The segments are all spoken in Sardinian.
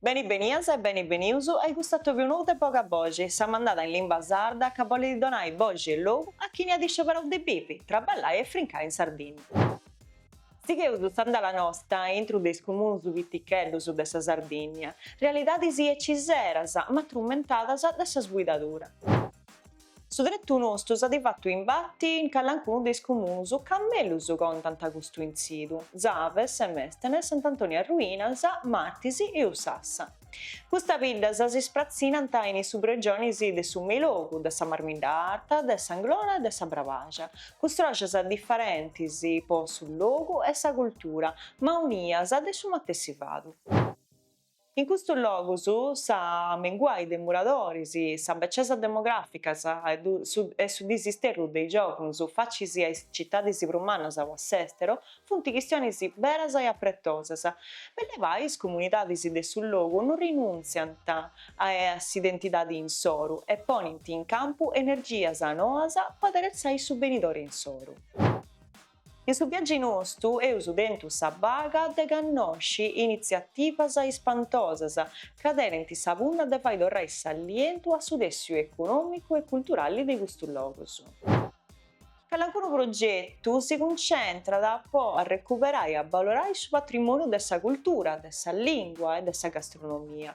Beni benias e beni benius a cust'atoviu nou de Boga Boxi, sa mandada in limba sarda ca bolit donai boxi e logu a chini at iscioberau de bivi, traballai e frincai in Sardinnia. Sigheus s'andala nosta a intru de is cumunus piticheddus de sa Sardinnia, realidadis eciseras ma trummentadas de sa sbuidadura. Su tretu nostu s'at fatu imbati in calancunu de is comunus ca mellus contant custu intzidu, Tzave, Semestene, Sant'Antoni Arruinas, Martis e Ussassa. Custas biddas si spratzinant in is subregionis de su Meilogu, de sa Marmidda Arta, de s'Anglona e de sa Brabaxa, cun stòrias diferentis po su logu e sa cultura, ma unias de su matessi fadu. In custus logus s'amenguai de moradoris, sa becesa demografica e su disisterru de is giovunus facis a is citadis prus mannas o a s'esteru funt chistionis beras e apretosas. Bell'e gai is comunidadis de su logu no rinuntziant a s'identidadi insoru e ponint in campu energias noas po aderetzai su benidori insoru. In su viagi nostu eus tentu sa paga de cannosci initziativas ispantosas ca tenint sa punna de fai torrai s'alientu a su tessiu econòmicu e culturali de custus logus. Calancunu progetu si cuncentrat po arrecuperai e abbalorai su patrimòniu de sa cultura, de sa lìngua e de sa gastronomia.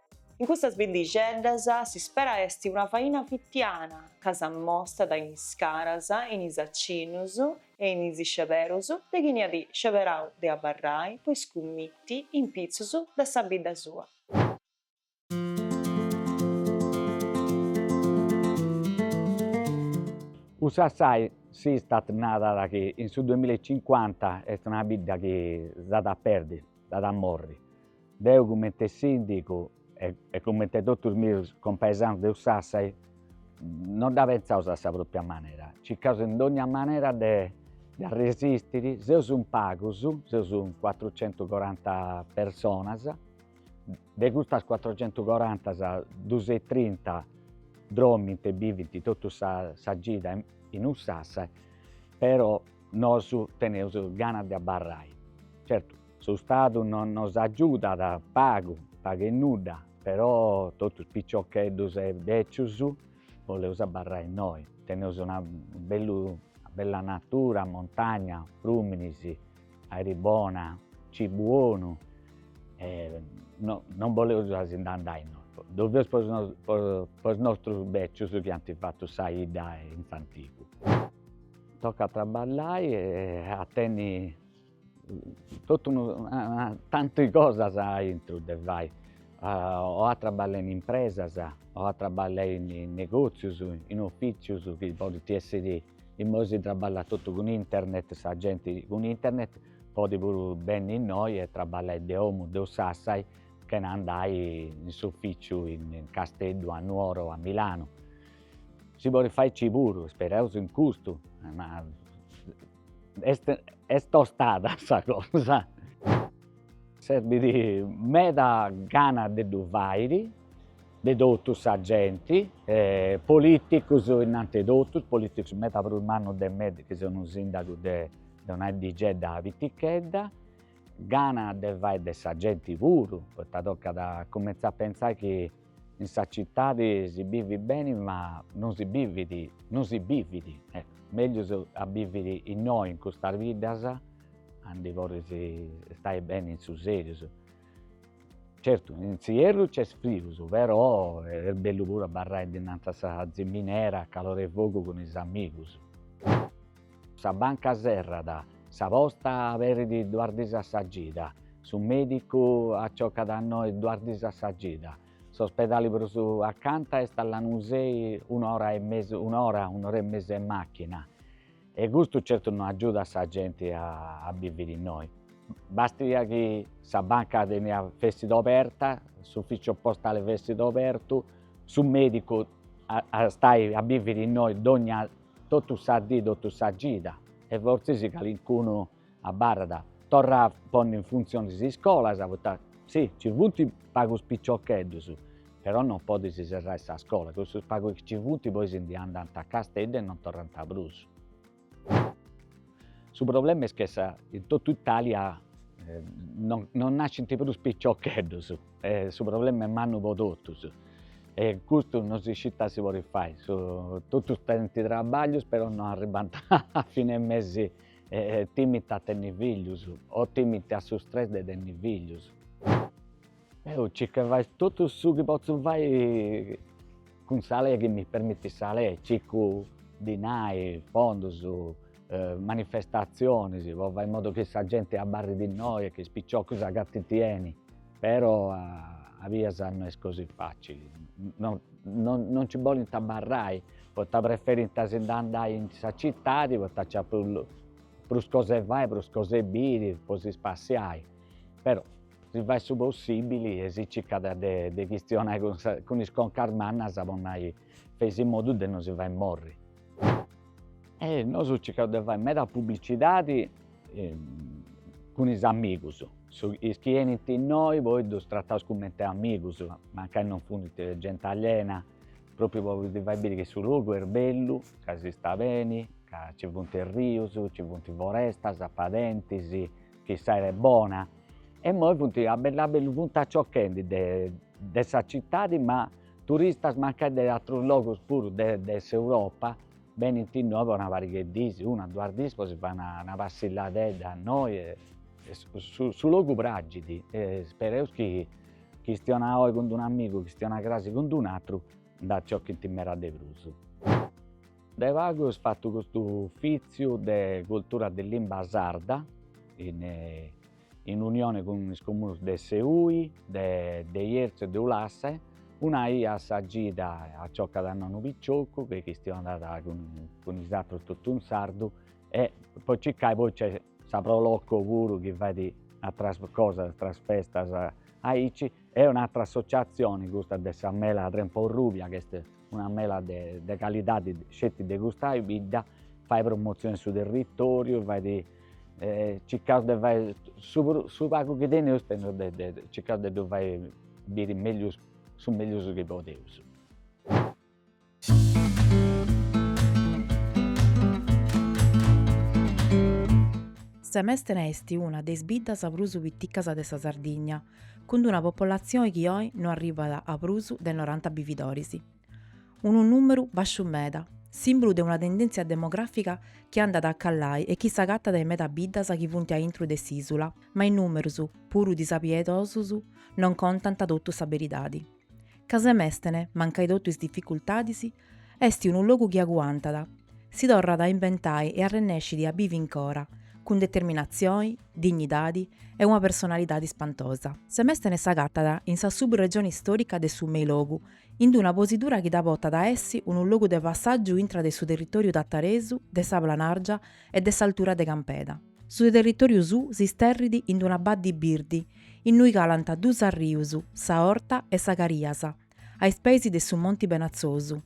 In custas biddixeddas s'ispera est una faina fitiana ca s'ammostat in is caras, in is acinnus e in is isceberus de chini at isceberau de abarrai po iscummiti in pitzus de sa bidda sua. Ussassai s'Istat narat chi in su duemilla e cincuanta est una bidda chi s'at a perdi, s'at a morri. Deu comente sìndigu e comente totus meus compaesanus de Ussassai non dda pensaus a sa pròpria manera, circaus in dònnia manera de arresistiri, seus in pagus, seus in cuatrucentucoranta personas, de custas cuatrucentucorantas dusentutrinta dròmint e bivint totu sa gida in Ussassai, però nosu teneus ganas de abarrai, certu Su Stadu non nos agiudat pagu, pagu e nudda, però totus piciocheddus e bècius boleus abarrai innoi. Teneus una bellu bella natura, montagna, frùminis, airi bona, cibu 'onu e no non boleus a si ndi andai innoi. Ddu feus po po is nostrus bècius chi ant fatu sa 'idda in s'antigu. Tocat a traballai e a tenni Totu unu tantu 'e cosas aici de fai, o a traballai in impresas o a traballai in negòtzius, in ofìtzius chi podint èssiri, immoi si traballat totu cun internet, sa genti cun internet podit puru benni innoi e traballai de domu, de Ussassai chena andai in s'ofìtziu in Casteddu, a Nuoro o a Milanu. Si podit fai aici puru, isperaus in custu, ma Est tostada sa cosa. Serbit meda gana de ddu fairi, de totu sa genti, politicus innanti 'e totus, politicus meda prus mannus de mei chi seu unu sindagu de de una 'eddixedda pitichedda, gana de fai de sa genti puru, poita tocat a cumentzai a pensai chi In sa citadi si bivit beni ma non si bivit, non si bivit, meglius a biviri innoi in custas biddas aundi podis istai beni in su seriu. Certu in s'ierru nc'est frius però est bellu puru abarrai dinantis a sa ziminera a calor'e fogu cun is amigus. Sa banca serrat, sa posta aberit duas dis a sa gida, su medicu aciocat innoi duas dis a sa gida, s'ospedali prus acanta est a Lanusei un'ora e mesu, un'ora, un'ora e mesu 'e machina, e custu certu no agiudat sa genti a a biviri innoi. Bastia chi sa banca teniat, fessit oberta, s'ufficiu postali fessit obertu, su medicu at a istai a biviri innoi dogna totu sa dì totu sa gida e fortzis calincunu abarrat, torra a ponni in funtzioni is iscolas, poita si, nci funt pagus piciocheddus, però non podis serrai sa scola, cussus pagus chi ci funt poi si ndi andant a Casteddu e non torrant prus. Su problema est che sa in totu Italia non non nascint prus piciocheddus e su problema est mannu po totus e custu non si scit ita si podit fai, totus tenint trabaglius però non arribant a fine mesi e timint a tenni fillus o timint a su stress de tenni fillus. Deu circu 'e fai totu su chi potzu fai cun sa lei chi mi permitit sa lei, circu dinai, fondus, manifestatzionis po fai in modu chi sa genti abarrit innoi e chi is piciocus s'agatint beni, però a bias no est così facili, no no nci bolint abarrai poita preferint a si ndi andai in sa citadi poita nc'at prus cosa 'e fai, prus cosa 'e biri, po si spassiai Però, si fait su possibili e si circat de de chistionai cun sa cun is concas mannas po nai fei a modu de no si fai morri. E nosu circaus de fai meda publicidadi cun is amigus, su is chi 'enint innoi po ddus trataus cumenti amigus, mancai non funt genti aliena, propriu po ddi fai biri chi su logu est bellu, ca si stat beni, ca ci funt is rius, ci funt is forestas, padentis chi s'aera est bona e immoe funt a bellu a bellu funt acciocchendi de de sa citadi ma turistas mancai de atrus logus puru de de s'Europa benint innoe po una parighe 'e diis una duas diis po si fai una una passilladedda innoi e su su logu pragit e ispereus chi chistionae oe cun d'un'amigu chistionae crasi cun d'un'atru nd'acciochint meda de prus De pagu est fatu custu ufìtziu de cultura de limba sarda in in unione cun is comunus de Seui, de de Jerzu e de Ulassa, una ia a sa gida acciocat unu piciocu, chi chistionat cun cun is atrus totu in sardu, e po circai poi nc'est sa Pro Loco puru chi fait atras cosas, atras festas aici, e un'atra associazioni custa de sa mela trempa urrubia chi est Una mela de calidadi sceti de custa bidda, fait promotzioni in su territoriu, fait circaus de fai su pagu chi teneus circaus de ddu fai biri meglius su meglius chi podeus. Semestene est una de is biddas prus piticas de sa Sardigna, cun una popolatzione chi oi no arribat a prus de noranta bividoris. Unu nùmeru bàsciu meda, sìmbulu de una tendèntzia demogràfica chi andat a calai e chi s'agatat in meda biddas chi funt a intru de s'ìsula, ma is nùmerus, puru disapietosus, non contant totu sa beridadi. Ca semestene, mancai totu is dificultadis, est unu logu chi aguantat, si torrat a imbentai e arrennescit a bivi incora, cun determinatzioni, dignidadi e una personalidadi spantosa. Semestene s'agatat in sa subregioni stòrica de su Meilogu, in una posidura chi dda portat a essi unu logu de passàgiu intra de su territòriu tataresu, de sa Planàrgia e de s'altura de Campeda. Su territoriu suu s'isterrit in d'una baddi birdi innui calant duus arrius, sa Orta e sa Cariasa, a is peis de su Monti Benatzosu,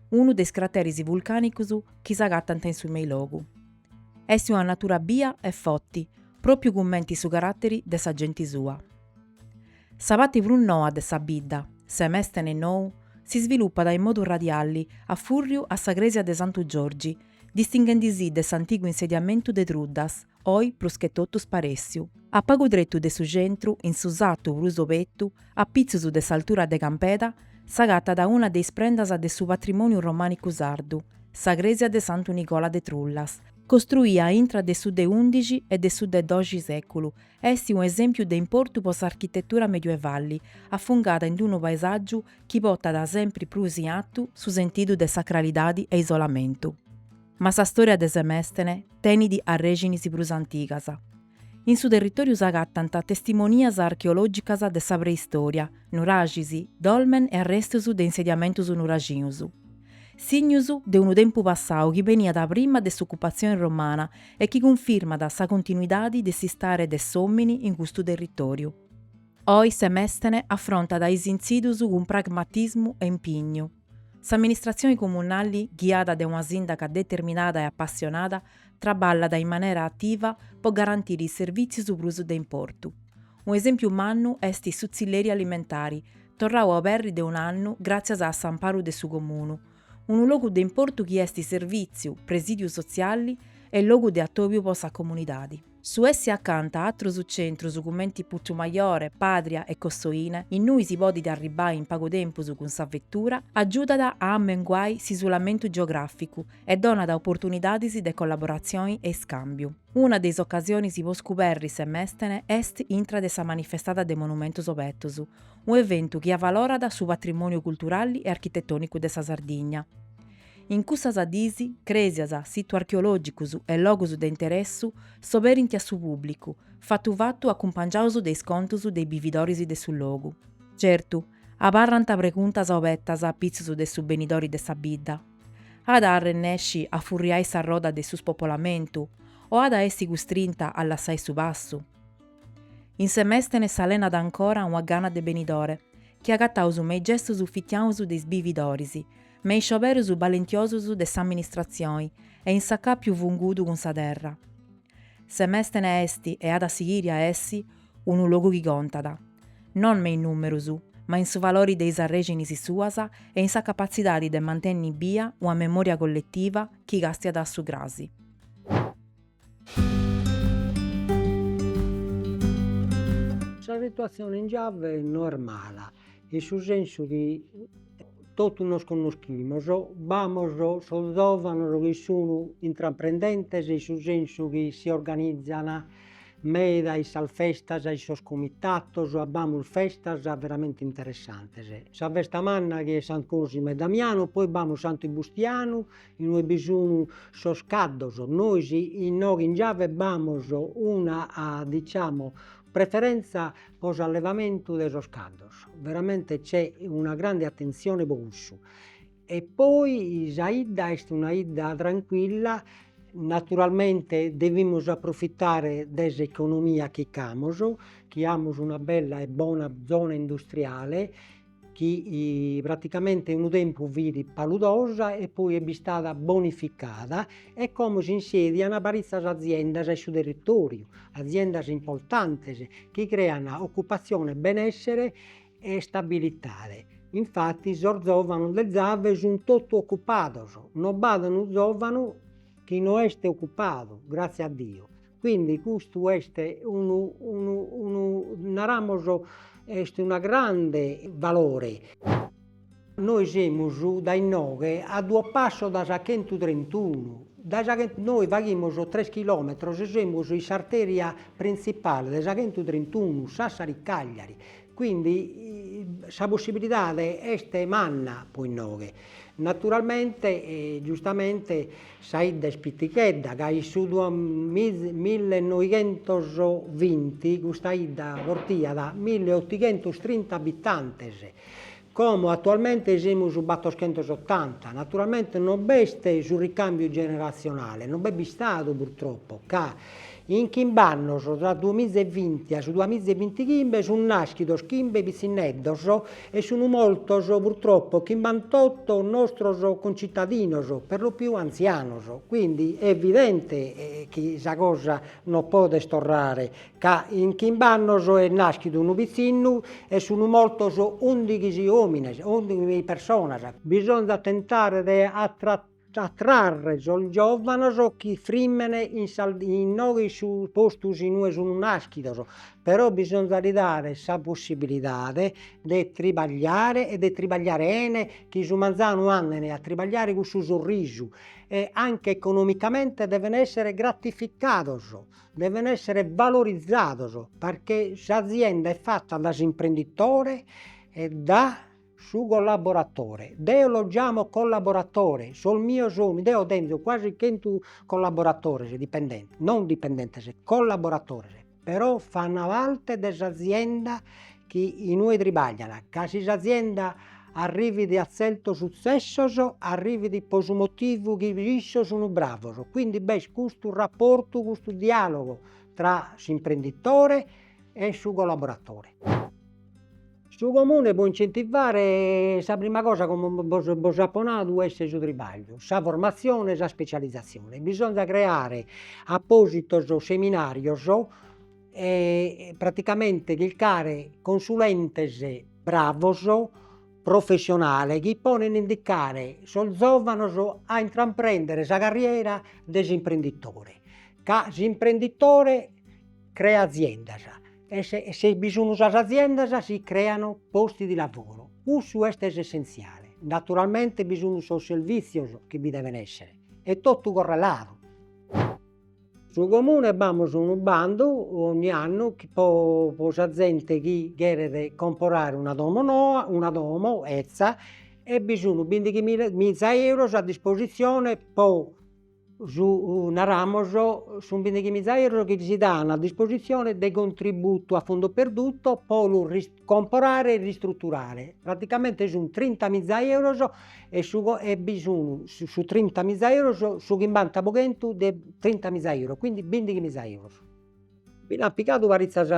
unu de is crateris vulcanicus chi s'agatant in su Meilogu. Est una natura bia e foti, propiu cumenti su caratteri de sa genti sua. Sa patti prus noa de sa bidda, Semestene Nou, s'isvilupat in modu radiali a furriu a sa cresia de Santu Giorgi, distinghendi si de s'antigu insediamentu de Truddas, oi prus che totu sparèssiu, a pagu tretu de su centru, in su satu prus obetu, a pitzus de s'altura de Campeda, s'agatat una de is prendas de su patrimòniu romànicu sardu, sa crèsia de Santu Nicola de Trullas, costruia intra de su de undixi e de su de doxi sèculu, est un'esèmpiu de importu po s'architetura medioevali, afungada in unu paesàgiu chi potat sempri prus in artu su sentidu de sacralidadi e isolamentu. Ma sa storia de Semèstene tenit arrèxinis prus antigas. In su territòriu s'agatant testimonias archeològicas de sa preistòria, nuraxis, dolmen e arrestus de insediamentus nuràgicus. Signus de unu tempus passau chi beniat prima de s'ocupatzioni romana e chi cunfirmat sa continuidadi de s'istare de s'òmini in custu territòriu. Oi Semèstene afrontat is intzidus cun pragmatismu e impignu. S'amministratzioni comunali, ghiada de una sìndaga determinada e apassionada, traballat in manera ativa po garantiri is servìtzios prus de importu. Un'esèmpiu mannu est su tzilleri alimentari, torrau a oberri de un'annu gràtzias a s'amparu de su Comunu, unu logu de importu chi est servìtziu, presìdiu sotziali e logu de atòbiu po sa comunidadi. Su essi acanta a atrus centrus cumenti Putzumajore, Pàdria e Cossoine, innui si podit arribbai in pagu tempus cun sa vetura, agiudat a ammenguai s'isulamentu geogràficu e donat oportunidadis de collaboratzioni e iscàmbiu. Una de is ocasionis po scuberri Semèstene est intra de sa manifestada de Monumentus Obetus, un'eventu chi avalorat su patrimòniu culturali e architetònicu de sa Sardigna. In cussas diis, crèsias, situs archeològicus e logus de interessu s'oberint a su pùblicu, fatu fatu acumpangiaus de is contus de is bividoris de su logu. Certu, abarrant preguntas obetas a pitzus de su benidori de sa bidda. At a arrennèsci a furriai sa roda de su spopolamentu o at a essi custrinta a lassai su passu? In Semèstene s'alenat ancora una gana de benidore chi agataus me is gestus fitianus de is bividoris, Me is scioberus balentiosus de s'amministratzioni e in s'acàpiu fungudu cun sa terra. Semèstene est e at a sighiri a essi unu logu chi contat, non me is nùmerus, ma in su valori de is arrèxinis suas e in sa capatzidadi de mantenni bia una memòria colletiva chi castiat a su crasi. Sa situatzione in Giave no est mala, in su sensu chi totu nos connoschimus, b'amus sos giovanos chi sun intraprendentes e in su sensu chi si organizan meda in sas festas, in sos comitatos, b'amus festas veramente interessantes, sa festa manna chi est San Cosimo e Damianu, poi b'amus Santu Bustianu Inue bi sun sos caddos, nois inoghe in Giave b'amus una diciamo preferentza pro s'allevamentu de sos caddos, veramente c'è una grande attenzione pro cussu e poi sa 'idda est una 'idda tranquilla, naturalmente devimus approfittare de s'economia chi ch'amus, chi amus una bella e bona zona industriale chi praticamente unu tempus fit paludosa e poi est bistada bonificada e como s'insedian paritzas aziendas in su territoriu, aziendas importantes chi crean occupatzione, benessere e stabilitade. Infatti sos zovanos de Zave sun totu occupados, no b'at unu zovanu chi no est occupadu, grazie a Dio, Quindi custu est unu unu unu naramus est unu grande valore. Nois semus dae inoghe a duos passos dae sa chentu trentunu, dae sa chentu nois faghimus tres chilometros semus in s'arteria printzipale de sa chentu trentunu Sassari Cagliari, quindi sa possibilidade est manna pro inoghe Naturalmente, giustamente, sa 'idda est pitighedda, ca in su millenoighentos vinti custa 'idda portaiat milleotighentostrinta abitantes, como atualmente semus battoschentosotanta. Naturalmente non b'est su ricambiu generatzionale, non b'est bistadu purtroppo, ca In chimb'annos, tra duamiza e vinti a su duamiza e vinti chimbe, sunt nàschidos chimbe pitzinneddos e sunt mortos purtroppo chimbantotto nostros concitadinos, perlopiù antzianos. Quindi est evidente chi sa cosa non podet torrare, ca in chimb'annos est nàschidu unu pitzinnu e sunt mortos ùndighixi òmines, ùndighixi personas. Bisonzat tentare de attrarre sos giòvanos chi frimen inoghe in su postu in ue sun nàschidos, però bisonzat li dare sa possibilidade de tribagliare e de tribagliare 'ene chi su manzanu andene a tribagliare cun su sorrisu e anche economicamente deven essere gratificados, deven essere valorizados, perché s'azienda est fatta da s'imprenditore e da Su collaboratore. Deo los giamo collaboratores, sos mios sun, deo tenzo quasi chentu collaboratores, dipendentes, non dipendentes, collaboratores, però fan parte de s'azienda chi inue tribaglian, ca si s'azienda arrivit a tzertos sutzessos arrivit pro su motivu chi issos sun bravos, quindi b'est custu rapportu, custu dialogu tra s'imprenditore e su collaboratore. Su comune pro incentivare sa prima cosa como bos apo nadu est su tribagliu, sa formazione e sa specializzazione, bisonzat creare appositos seminarios e praticamente chircare consulentes bravos, professionales chi poden indicare sos zovanos a intraprender sa carriera de s'imprenditore, ca s'imprenditore creat aziendas E se bi sun sas aziendas si creano posti di lavoro, cussu est s'essentziale. Naturalmente bi sun sos servìtzios chi bi deven èssere, est totu correladu. Su Comune b'amus unu bandu ogni annu pro sa zente chi cheret comporare una domo noa, una domo 'ezza, e bi sun bindighi miza euros a dispositzione pro su, naramos, sun bindighimiza euros chi si dan a dispositzione de contributu a fondo perduto po lu comporare e ristruturare, praticamente sun trintamiza euros e ue bi sun su trintamiza euros su chimbanta po chentu de trintamiza euros, quindi bindighimiza euros. Bi nd'an pigadu paritzos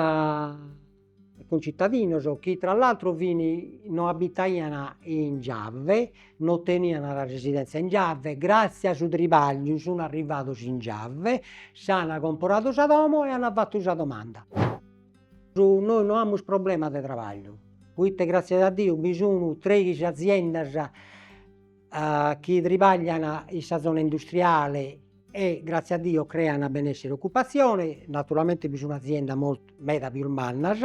Cuncitadinos chi tra l'altro fin no abitaian in Giave, no tenian sa residèntzia in Giave, gràtzias a su tribagliu sun arrivados in Giave, s'an comporadu sa domo e an fatu sa domanda. Nois no amus problemas de tribagliu, proite gràtzias a Diu bi sun tres aziendas chi tribaglian in sa zona industriale e gratzias a Dio crean benessere e occupatzione, naturalmente bi sun aziendas moltu meda pius mannas,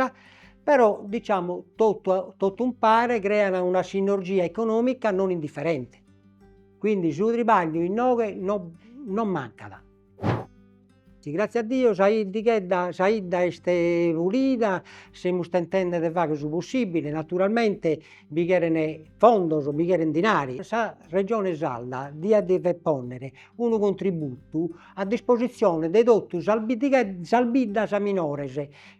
però diciamo totu a totu umpare crean una sinergia economica non indifferente, quindi su tribagliu inoghe non non mancat Si gràtzias a Diu sa 'iddighedda sa 'idda est pulida, semus tentende de fagher su possibile, naturalmente bi cheren fondos, bi cheren dinari, sa Regione Sarda diat dever ponner unu contributu a disposizione de totu sas sas biddas minores,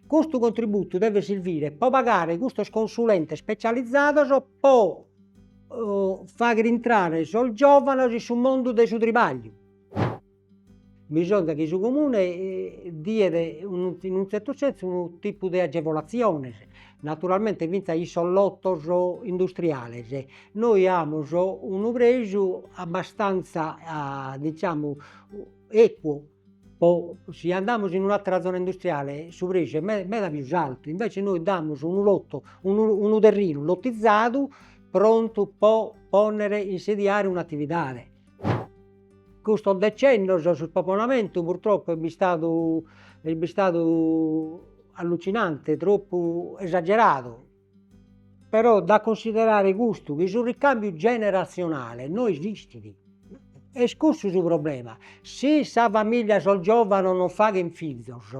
custu contributu devet sirvire pro pagare custos consulentes specializados pro fagher intrare sos giovanos in su mundu de su tribagliu Bisonzat chi su Comune diet in unu tzertu sensu unu tipu de agevolatziones, naturalmente finzas in sos lotos industriales, nois amus unu preju abbastanza diciamo equo po si andamus in un'atera zona industriale su preju est me- meda pius altu, invece nois damus unu lotu unu unu terrinu lotizadu prontu po ponnere, insediare un'atividade custos decennios su spopolamentu purtroppo est bistadu est bistadu allucinante, troppu esageradu, però da cunsiderare custu chi su ricambiu generatzionale no esistit, est cussu su problema, si sa familia sos giovanos non faghen fizos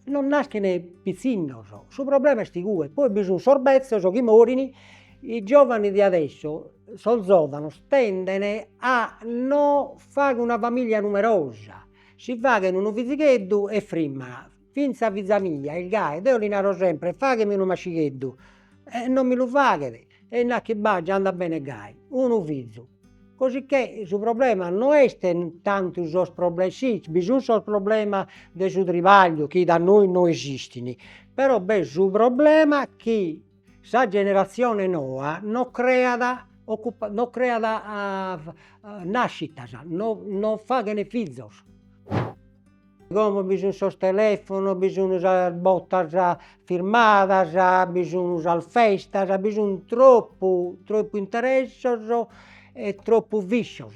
non naschin pitzinnos, su problema est igue, poi bi sun sos bezzos chi morin, i giovani de adesso, sos zovanos tenden a no fagher una familia numerosa, si faghen unu fizigheddu e frimman, finzas fiza mia est gai, deo li naro sempre faghemi unu mascigheddu e non mi lu faghet E nat chi ba', già andat bene gai unu fizu. Cosicchè su problema no est tantu sos problemas, si bi sun sos problemas de su tribagliu chi da nois no esistin, però b'est su problema chi sa generatzione noa no creat occupa no creat nascitas, no no faghen fizos Como bi sun sos telefonos, bi sun sas botas firmadas, bi sun sas festas, bi sun troppu troppu interessos e troppu viscios,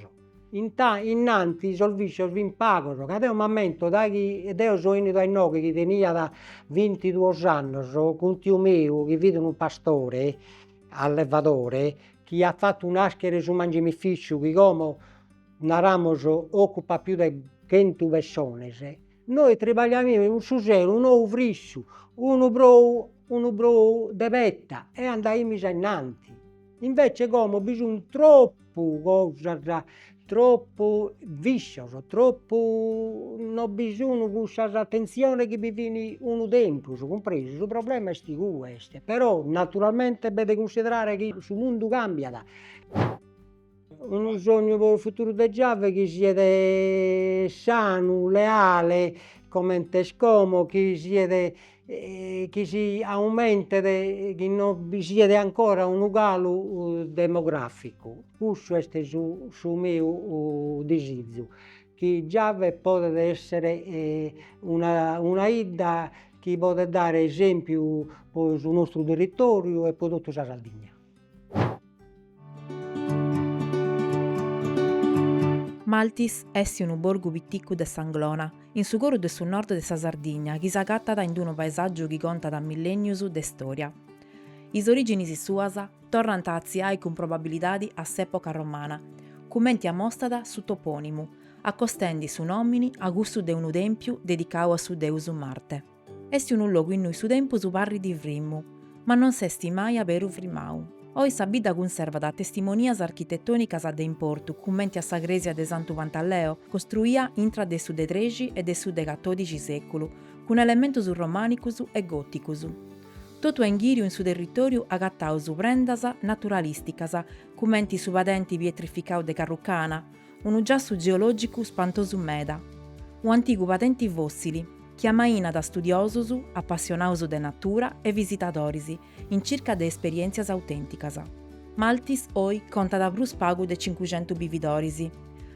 innanti sos viscios fin pagos, ca deo m'ammento dai chi deo so 'enidu a inoghe chi tenia vintiduos annos, cun tiu meu chi fit unu pastore allevadore chi at fattu naschere su mangimificiu chi como naramus ocupat pius de chentu pessones, nois tribagliaimus in su sero unu ou frissu, unu brou unu brou de petta e andaimus ainnanti, invece como bi sun troppu cosas, troppu viscios, troppu no bi sun cussas attenziones chi bi fin unu tempus, cumpresu, su problema est custu, però naturalmente b'est de cunsiderare chi su mundu cambiat Unu sognu po unu futuru de Giave chi siet sanu, leale, comente est como, chi siet chi si aumentet, chi no bi siet ancora unu calu demograficu, cussu est su su meu disizu, chi Giave podet esser una una 'idda chi podet dare esempiu po su nostru territoriu e po totu sa Sardigna Maltis est unu borgu piticu de s'Anglona, in su coru de su nord de sa Sardigna chi s'agatat in unu paesàgiu chi contat millènnius de istòria. Is orìginis suas torrant a atziai cun probabilidadi a s'època romana, cumenti amostat su topònimu, acostendi su nòmini a cussu de unu tèmpiu dedicau a su deus Marte. Est unu logu innui su tempus parrit frimmu, ma non s'est mai aberu frimau. Oi sa bidda cunservat testimonias architettònicas de importu cumenti a sa crèsia de Santu Pantaleo, costruia intra de su de trexi e de su de catòdixi sèculu, cun elementus romànicus e gòticus. Totu a inghìriu in su territòriu agataus prendas naturalìsticas cumenti su padenti pietrificau de Carrucana, unu giassu geològicu spantosu meda, un'antigu padenti fòssili chi amainat a studiosos, apassionados de natura e visitadoris in circa de esperièntzias autènticas. Maltis oi contat prus pagu de cincuxentu bividoris,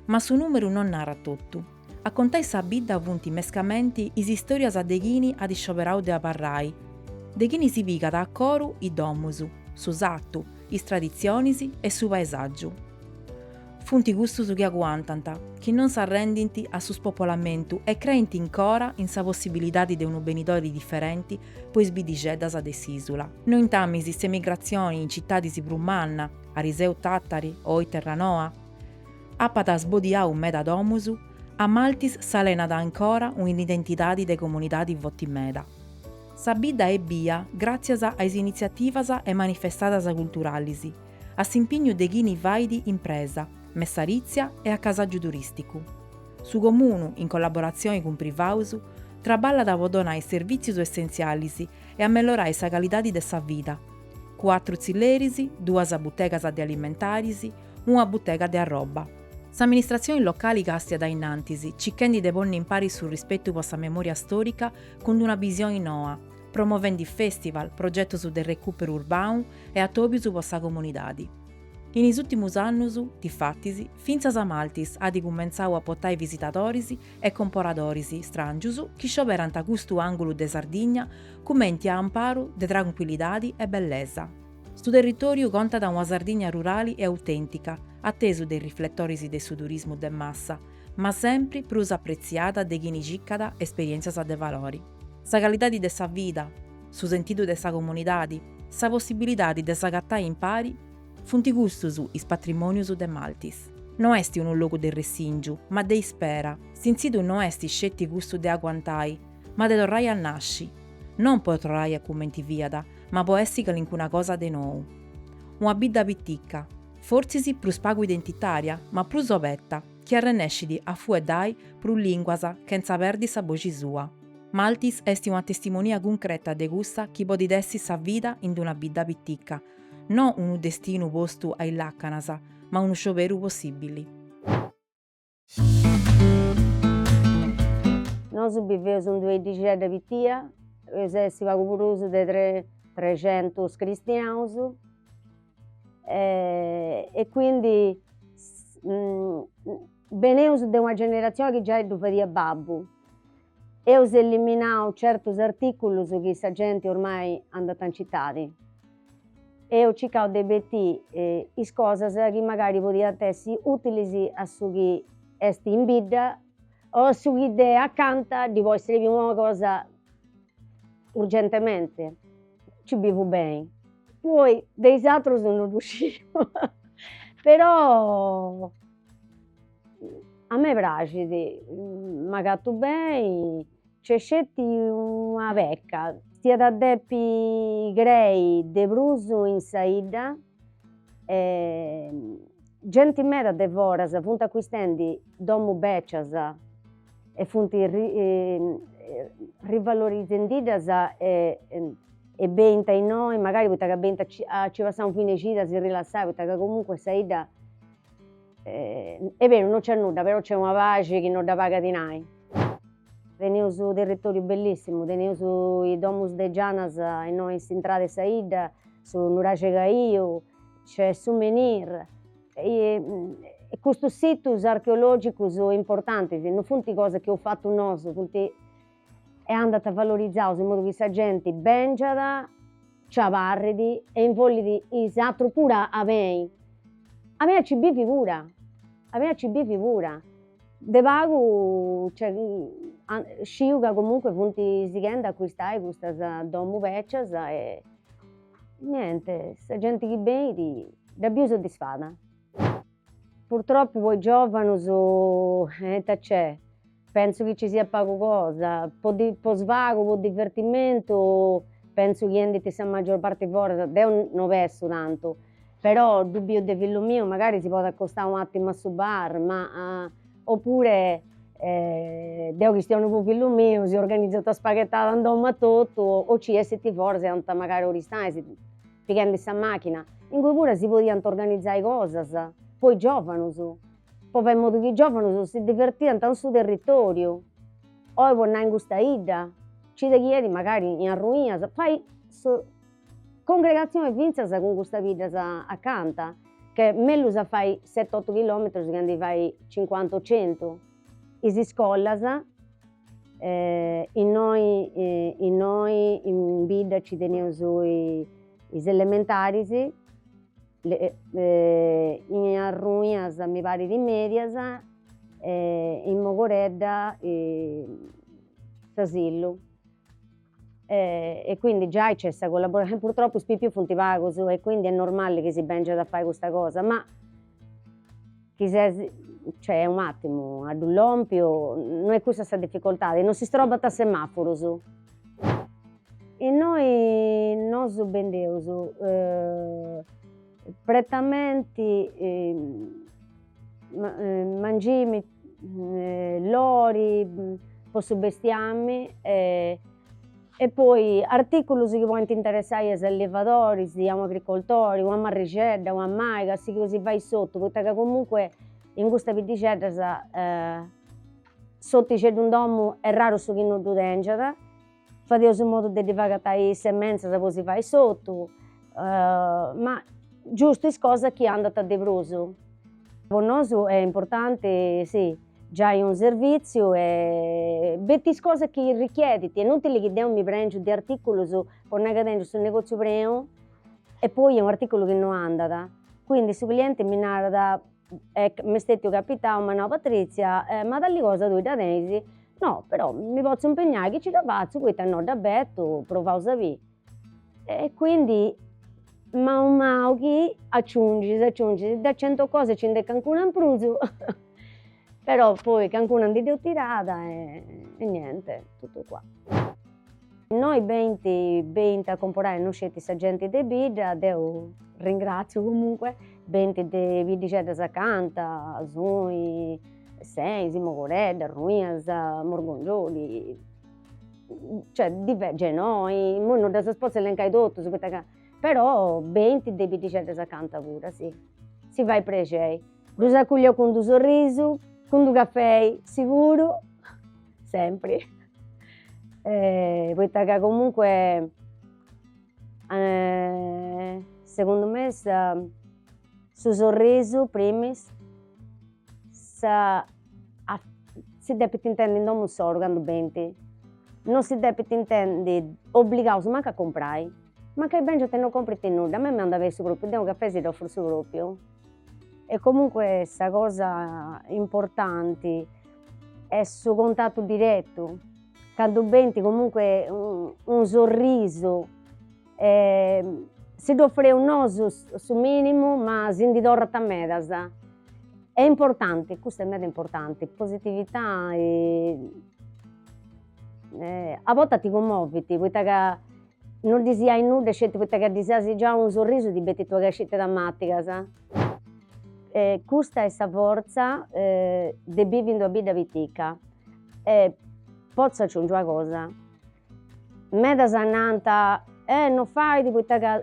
ma su nùmeru non narat totu. A contai sa bidda funt mescamenti is istòrias de chini at scioberau de abarrai, de chini si pigat a coru is domus, su satu, is traditzionis e su paesàgiu. Funt cussus chi aguantant, chi non s'arrendint a su spopolamentu e creint ancora in sa possibilidadi de unu benidori diferenti po is biddixeddas de s'ìsula. Nointamis s'emigratzioni in citadis prus manna, ariseu Tàtari o oi Terranoa, apat sbodiau meda domus, a Maltis s'alenat ancora un'identidadi de comunidadi foti meda. Sa bidda est bia gràtzias a is initziativas e manifestadas culturalis, a s'impignu de chini fait impresa, messaritzia e acasàgiu turìsticu. Su Comunu, in collaboratzioni cun privaus, traballat po donai servìtzius essentzialis e amellorai sa calidadi de sa vida, cuatru tzilleris, duas butegas de alimentaris, una butega de arroba. S'amministratzioni locali càstiat a innantis, cichendi de ponni impari su rispetu po sa memòria stòrica cun una bisioni noa, promovendi fèstival, progetos de recùperu urbanu e atòbios po sa comunidadi. In is ùrtimus annus, difatis, fintzas Maltis at cumentzau a potai visitadoris e comporadoris stràngius chi scioberant custu àngulu de Sardigna cumenti a amparu de trancuillidadi e bellesa. Su territòriu contat una Sardigna rurali e autèntica, a tesu de is rifletoris de su turismu de massa, ma sempri prus apretziada de chini circat esperièntzias de valori. Sa calidadi de sa vida, su sentidu de sa comunidadi, sa possibilidadi de s'agatai impari, funt custus is patrimònius de Maltis. No est unu logu de ressìngiu, ma de ispera, s'intzidu no est sceti custu de aguantai, ma de torrai a nasci, non po torrai a cumenti fiat, ma po essi calincuna cosa de nou. Una bidda piticca, fortzis prus pagu identitària ma prus obeta, chi arrennescit a fueddai prus lìnguas chentza perdi sa boxi sua. Maltis est una testimonia cuncreta de cussa chi podit essi sa vida in d'una bidda piticca, no unu destinu postu a is làcanas, ma unu scioberu possìbili. Nosu biveus in d'una iddixedda pitia, eus a essi pagu prus de trexentus cristianus e quindi beneus de una generatzioni chi giai ddu fadiat babbu Eus eliminau certus artìculus chi sa genti ormai andat in citadi. Eus circau de betì is cosas chi magari podiant essi ùtilis a su chi est in bidda o a su chi de acanta ddi podit srebi una cosa urgentementi. Nci bivu beni. Poi de is atrus no ddu sciu però A me praxit, m'agatu beni, nc'est sceti una pecca, diat a depi crei de prus in sa 'idda e genti meda de foras funt acuistendi domu becias e funt rivalorizendiddas e e benint a innoi mancai poita ca benint a ci a ci passai unu fine 'e cida a si rilassai poita ca comunque sa 'idda Est beru, non c'est nudda, però c'est una paxi chi non dda pagat dinai. Teneus unu territòriu bellissimu, teneus is domus de Gianas innoi in s'intrada 'e sa 'idda, su nuraxi Caiu, nc'est su menhir, e custus situs archeologicus importantis non funt cosas chi eus fatu nosu, funt e andant valorizaus in modu chi sa genti bèngiat, nci abarrit e invollit is atrus puru a benni. A benni a nci bivi puru, a benni a nci bivi puru. De pagu sciu ca comunque funt sighendi a accuistai custas domus bècias e niente, sa genti chi benit dda biu soddisfada. Purtroppu po is giovanus ita nc'est Pensu chi ci siat pagu cosa, po po svagu, po divertimentu, pensu chi andint sa maggior parti foras, deo no bessu tantu, però ddu biu de fillu miu, magari si podit acostai un'atimu a su bar, ma oppure deo chistionu po fillu miu, si organizat una spaghetada in domu a totu o ci essint foras e andant magari a Oristanis, pighendi sa machina, ingui puru si podiant organizai cosas po is giovanus Po fai modu chi giòvanus si divertiant in su territòriu. Oi po nai in custa 'idda ci dexiat magari in Arruinas fai congregatzioni fintzas cun custa biddas acanta ca est mellus a fai sete otu chilòmetrus chi a ndi fai cincuanta o centu. Is iscolas innoi innoi in bidda ci teneus is elementaris In Arruinas mi parit is mèdias e in Mogoredda s'asillu. E quindi giai nc'est sa collaborazioni, purtroppo is pipius funt pagus e quindi est normali chi si bèngiat a fai custa cosa ma Chi ses, cioè un attimu, a ddui lompi, no est cussa sa difficoltadi, no si strobant semafurus. Innoi nosu bendeus pretamenti mangimi, lori po su bestiami e E poi artìculus chi podent interessai a is allevadoris, a un'agricoltori, una marrixedda, una maiga, a chi si fait s'ortu, poita ca comunque in custas biddixeddas s'ortixeddu in domu est raru su chi no ddu tèngiat, fadeus in modu de ddi fai agatai is sementzas po si fai s'ortu, ma giustu is cosas chi andant de prus. Po nosu est importanti, sì Giai a unu servìtziu e bettis cosas chi richiedint e est inùtili chi deu mi prèngiu de artìculus po nai ca tèngiu su negòtziu preu e poi est un'artìculu chi no andat, quindi su clienti mi narat e m'est stètiu capitau, m'at nau Patrizia ma tali cosa tui dda tenis? No, però mi potzu impegnai chi nci dda fatzu poita no dda bètiu, provaus a biri E quindi manu manu chi aciungis aciungis, de cento cose nci nd'est calincuna in prus però poi calincuna ndi dd'eus tirada e niente, totu qua. Innoi benint benint a comporai non sceti sa genti de bidda, deu ringraziu comunque, benint de biddixeddas acanta, Soi, Seis, Mogoredda, Ruinas, Morgongiori cioè diversi immoi non ddas potzu elencai totus poita ca però benint de biddixeddas acanta puru si si fait prexeri ddus acòlliu cun d-unu sorrisu cun d-unu cafei siguru sempri poita ca comunque segundu me sa su sorrisu primis si depit intendi in domu insoru candu benint, non si depint intendi obligaus mancu a comporai, mancai bengent e non comporint nudda, a mei mi andat beni su propriu, deu cafè si dd'ofuru su propriu e comunque sa cosa importanti est su contatu direttu, candu benint comunque unu sorrisu Si ddu ofreus nosu su minimu ma si ndi torrant medas. Est importanti, custu est meda importanti, positività a bortas ti cummovit poita ca non ddis giai nudda sceti poita ca ddis as giau unu sorrisu ti betint una cascita de tamàtigas. E custa est sa fortza de bivi in d'una bidda pitica e potzu aciungi una cosa Medas nant, eh, no fait poita ca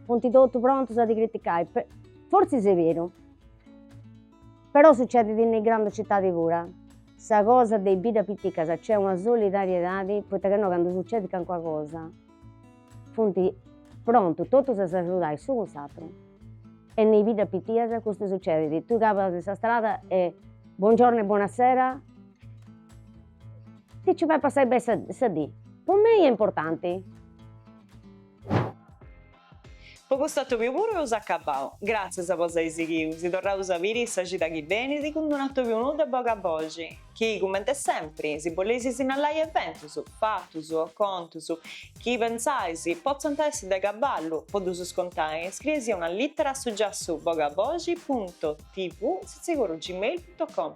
funt totus prontus a ti criticai. Fortzis est beru, però sucedit in is grandus citadis pura. Sa cosa de is biddas piticas nc'est una solidariedadi poita ca innoi candu sucedit calincuna cosa funt prontus totus a s'agiudai s'unu cun s'ateru e in is biddas pitias custu sucedit, tui cabas in sa strada e buongiorno e buonasera Ti nci fai passai beni sa sa dì. Po mei est importanti. Po custu atòbiu puru eus acabau. Gràtzias po s'ai sighiu, si torraus a biri sa cida chi benit cun d'un'atòbiu nou de Bogaboxi, chi, cumenti sempri, si boleis sinnalai eventus, fatus o contus, chi pentzais, potzant essi de cabali, po ddus contai, scrieisì una lìtera a su giassu bogaboxi punto tv sitzigorru gmail punto com.